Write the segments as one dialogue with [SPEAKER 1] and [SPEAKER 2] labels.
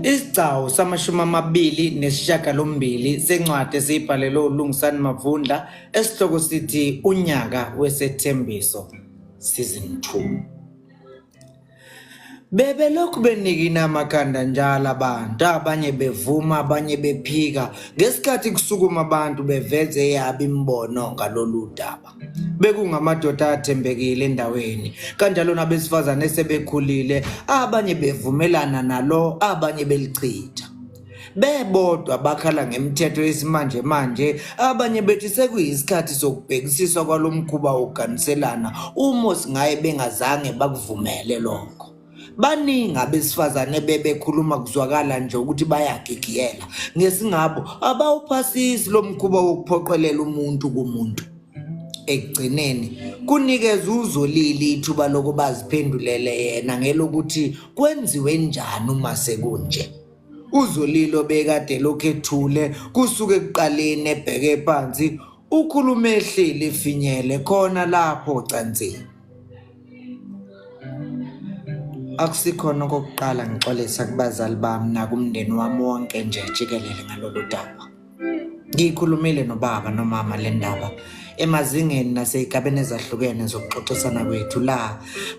[SPEAKER 1] Isigcawu samashumi amabili nesishiyagalombili sencwadi esiyibhalelwe uLungisani Mavundla esihloko sithi Unyaka Wesethembiso Season 2. Bebelokhu benikina amakhanda njalo abantu, abanye bevuma, abanye bephika, ngesikhathi kusukuma abantu beveze eyabo imibono ngalolu daba. bekungamadoda athembekile endaweni kanjalo nabesifazane esebekhulile abanye bevumelana nalo abanye belichitha bebodwa bakhala ngemithetho yesimanje manje abanye bethi sekuyisikhathi sokubhekisiswa kwalomkhuba wokuganiselana uma singaye bengazange bakuvumele lokho baningi abesifazane bebekhuluma kuzwakala nje ukuthi bayagigiyela ngesingabo abawuphasisi lo mkhuba wokuphoqelela umuntu kumuntu ekugcineni kunikeza uzolile ithuba lokuba ziphendulele yena ngelokuthi kwenziwe njani uma sekunje uzolile obekade lokhu ethule kusuke ekuqaleni ebheke phansi ukhulume ehleli efinyele khona lapho cansini Akusikhona okokuqala ngixolisa kubazali bami nakumndeni wami wonke nje jikelele ngalolu daba. Ngiyikhulumile nobaba nomama le ndaba emazingeni nasey'gabeni ezahlukene zokuxoxisana kwethu la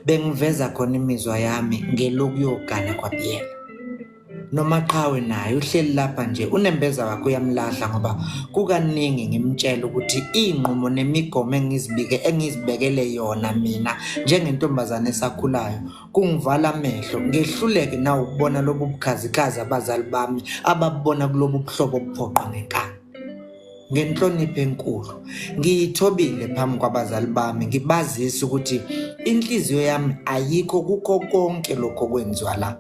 [SPEAKER 1] bengiveza khona imizwa yami ngelokuyogana kwabiyela. nomaqhawe naye uhleli lapha nje unembeza wakhe uyamlahla ngoba kukaningi ngimtshela ukuthi iy'nqumo nemigomo engizibike engizibekele yona mina njengentombazane esakhulayo kungivala amehlo ngehluleke nawo ukubona lobu bukhazikhazi abazali bami ababubona kulobu buhlobo obuphoqa ngenkani ngenhlonipho enkulu ngiyithobile phambi kwabazali bami ngibazisa ukuthi inhliziyo yami ayikho kukho konke lokho kwenziwa la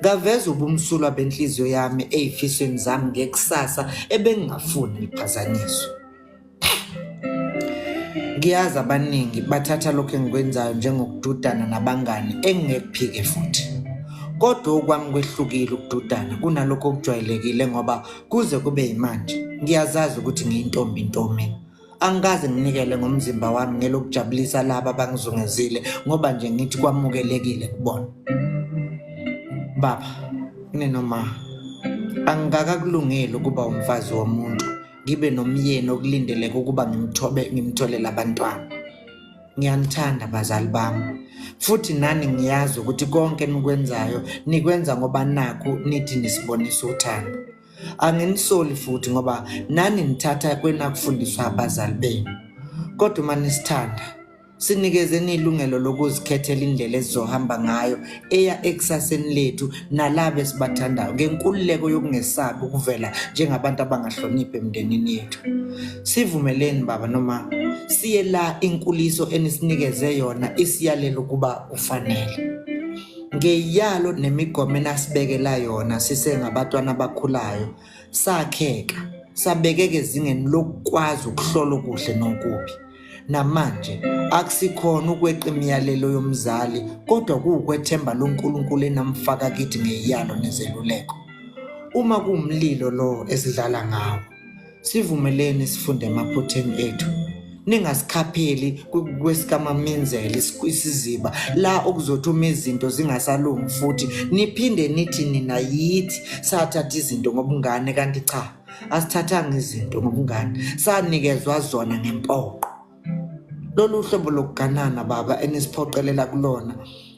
[SPEAKER 1] ngaveza ubumsulwa benhliziyo yami ey'fisweni zami ngekusasa ebengingafuni liphazanyiswe ngiyazi abaningi bathatha lokho engikwenzayo njengokududana nabangani engingekuphike futhi kodwa okwami kwehlukile ukududana kunalokho okujwayelekile ngoba Kuze kube yimanje ngiyazazi ukuthi ngiyintombi ntomi. Angikaze nginikele ngomzimba wami ngelokujabulisa laba abangizungezile ngoba nje ngithi kwamukelekile kubona. Baba, ninoma angikakakulungeli ukuba umfazi womuntu ngibe nomyeni okulindeleke ukuba ngimthobe ngimtholele abantwana. Ngiyanithanda bazali bami futhi nani ngiyazi ukuthi konke enikwenzayo nikwenza ngoba nakhu nithi nisibonisa uthando. Anginisoli futhi ngoba nani nithatha kwenakufundiswa abazali benu. Kodwa uma nisithanda sinikezeni ilungelo lokuzikhethela indlela esizohamba ngayo eya ekusaseni lethu nalabo esibathandayo ngenkululeko yokungesabi ukuvela njengabantu abangahloniphi emndenini yethu sivumeleni baba noma siye la inkuliso enisinikeze yona isiyalela ukuba ufanele ngeyalo nemigomo enasibekela yona sisengabatwana abakhulayo sakheka sabekeke ezingeni lokukwazi ukuhlola okuhle nokubi namanje akusikhona ukweqa imiyalelo yomzali kodwa kuwukwethemba loNkulunkulu enamfaka kithi ngeyalo nezeluleko uma kuwumlilo lo esidlala ngawo sivumeleni sifunde emaphutheni ethu ningasikhapheli kwesikamamenzeli isiziba la okuzothi uma izinto zingasalungi futhi niphinde nithi nina yithi sathatha izinto ngobungane kanti cha asithathanga izinto ngobungane sanikezwa zona ngempoqo lolu hlobo lokuganana baba enisiphoqelela kulona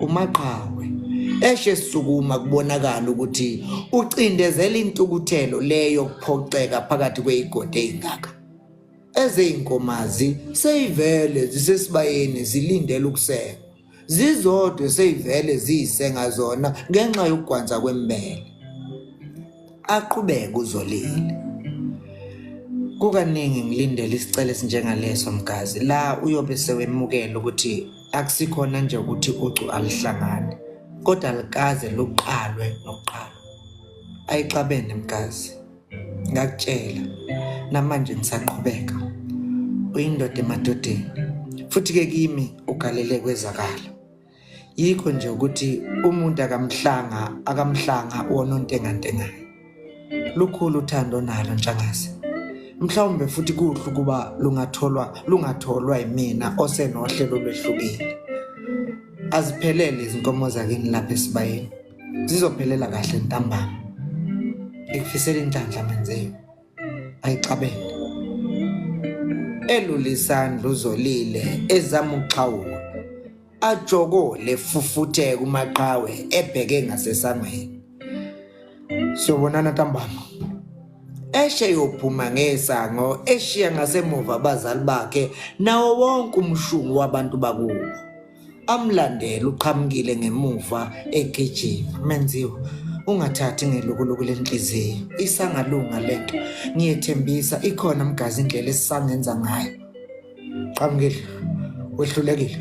[SPEAKER 1] umaqhawe eshe sukuma kubonakala ukuthi ucindezela intukuthelo leyo kuphoxeka phakathi kweyigodi eyingaka ezeyinkomazi seyivele zisesibayeni zilindele ukuseka zizodwe seyivele ziyisenga zona ngenxa yokugwanza kwembele aqhubeke uzolile kukaningi ngilindele isicelo esinjengaleso mgazi la uyobe sewemukela ukuthi Akusikhona nje ukuthi ucu alihlangane kodwa likaze luqalwe nokuqala. Ayixabene mkazi. Ngakutshela namanje ngisaqhubeka. Uyindoda emadodeni. Futhi ke kimi ugalele kwezakala. Yikho nje ukuthi umuntu akamhlanga akamhlanga wonontengantengayo. Lukhulu uthando nalo Ntshangase. Mhlawumbe futhi kuhle ukuba lungatholwa lungatholwa imina osenohlelo lwehlukile. Aziphelele izinkomo zakini lapha esibayeni. Zizophelela kahle ntambama. Ngikufisela inhlanhla menzeni. Ayixabene. Elulisandla uzolile ezamuxhawula. ajokole fufuthe kumaqhawe ebheke ngasesangweni sobonana ntambama eshe yophuma ngesango eshiya ngasemuva abazali bakhe nawo wonke umshungu wabantu bakubo amlandela uqhamukile ngemuva egijima menziwa ungathathi ngelukuluku lenhliziyo isangalunga lento ngiyethembisa ikhona mgazi indlela esisangenza ngayo qhamukile wehlulekile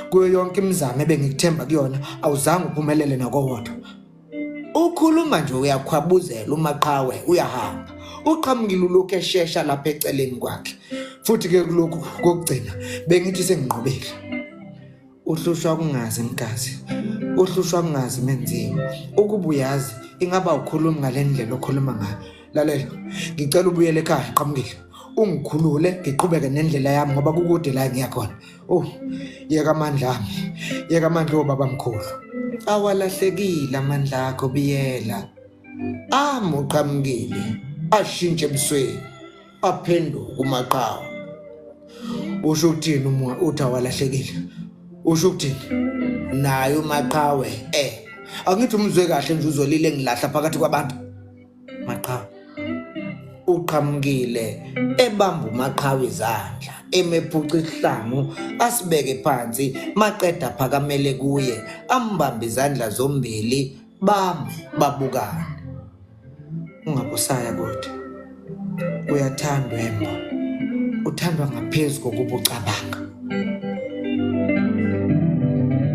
[SPEAKER 1] kuyo yonke imizamo ebengikuthemba kuyona awuzange uphumelele nakowodwa ukhuluma nje uyakhwabuzela umaqhawe uyahamba uqhamukile ulokhu eshesha lapha eceleni kwakhe futhi-ke kulokhu kokugcina bengithi senginqobile uhlushwa kungazi mgazi uhlushwa kungazi menziwa ukuba uyazi ingaba ukhulumi ngale ndlela okhuluma ngayo lalela ngicela ubuyele ekhaya qhamukile ungikhulule ngiqhubeke nendlela yami ngoba kukude la ngiya khona oh yeka amandla ami yeka amandla obaba mkhulu awalahlekile amandla akho biyela amuqhamukile ashintshe ebusweni aphenduka umaqhawe usho ukuthini uma uthi awalahlekile usho ukuthini naye umaqhawe eh angithi umzwe kahle nje uzolile ngilahla phakathi kwabantu maqhawe uqhamukile ebamba umaqhawe izandla emephuca isihlangu asibeke phansi maqeda phakamele kuye ambambe izandla zombili bami babukane Ungabusaya kodwa. Uyathandwa embo. Uthandwa ngaphezu kokubucabanga.